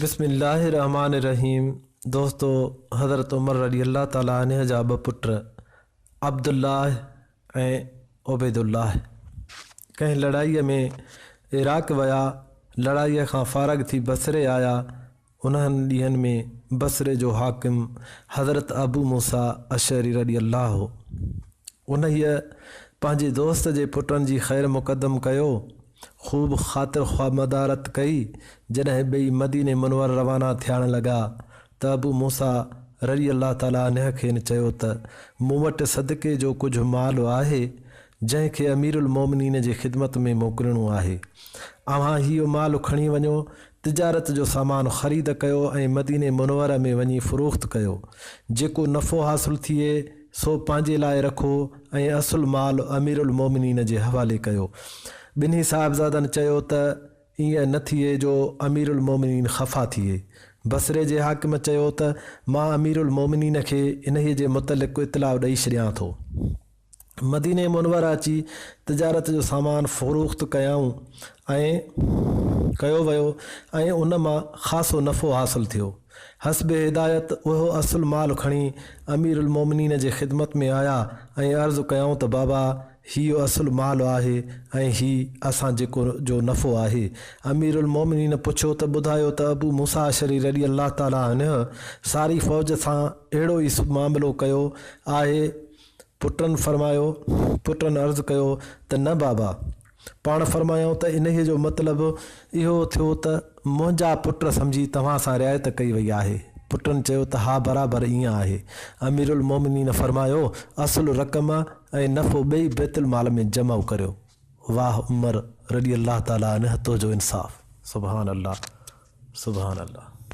بسم الله الرحمٰن الرحيم دوستو حضرت عمر رضي الله تعالٰي عنه جا ٻه پٽ عبدالله ۽ عبيدالله ڪنهن لڙائي ۾ عراق ويا لڙائي کان فارغ ٿي بصري آيا انهن ڏينهن ۾ بصري جو حاڪم حضرت ابو موسيٰ اشعري رضي الله هو انهيء پنهنجي دوست جي پٽن جي خير مقدم ڪيو خوب خاطر خواه مدارت ڪئي، جڏهن ٻئي مديني منور روانا ٿياڻ لڳا ته ابو موسيٰ رضي الله تعالٰي عنه کين چيو ته مون وٽ صدقي جو ڪجهه مال آهي، جنهن کي امير المومنين جي خدمت ۾ موڪلڻو آهي. اوهان هي مال کڻي وڃو، تجارت جو سامان خريد ڪيو ۽ مديني منوره ۾ وڃي فروخت ڪيو، جيڪو نفعو حاصل ٿئي، سو پنهنجي لاء رکو ۽ اصل مال امير المومنين جي حوالي ڪيو. ٻنهي صاحبزادن چيو ته ائين نه ٿئي جو امير المومنين خفا ٿئي. بصري جي حاڪم چيو ته مان امير المومنين کي انهيء جي متعلق اطلاع ڏئي ڇڏيان ٿو. مديني منوره اچي تجارت جو سامان فروخت ڪيائون ۽ ڪيو ويو ۽ ان مان خاصو نفعو حاصل ٿيو. حسب هدايت اهو اصل مال کڻي امير المومنين جي خدمت ۾ آيا ۽ عرض ڪيائون ته بابا هي اصل مال آهي ۽ هي اسان جيڪو جو نفعو آهي. امير المومنين پڇيو ته ٻڌايو ته ابو موسيٰ اشعري رضي الله تعالٰي عنه ساري فوج سان اهڙو ئي معاملو ڪيو آهي؟ پٽن فرمايو، پٽن عرض ڪيو ته نه بابا! پاڻ فرمايائون ته انهيء جو مطلب اهو ٿيو ته منهنجا پٽ سمجهي توهان سان رعايت ڪئي وئي آهي؟ پٽن چيو ته ها برابر ائين آهي. اميرالمؤمنين فرمايو، اصل رقم ۽ نفعو ٻئي بيت المال ۾ جمع ڪريو. واه عمر رضي الله تعالٰي عنه تنهنجو انصاف. سبحان الله سبحان الله.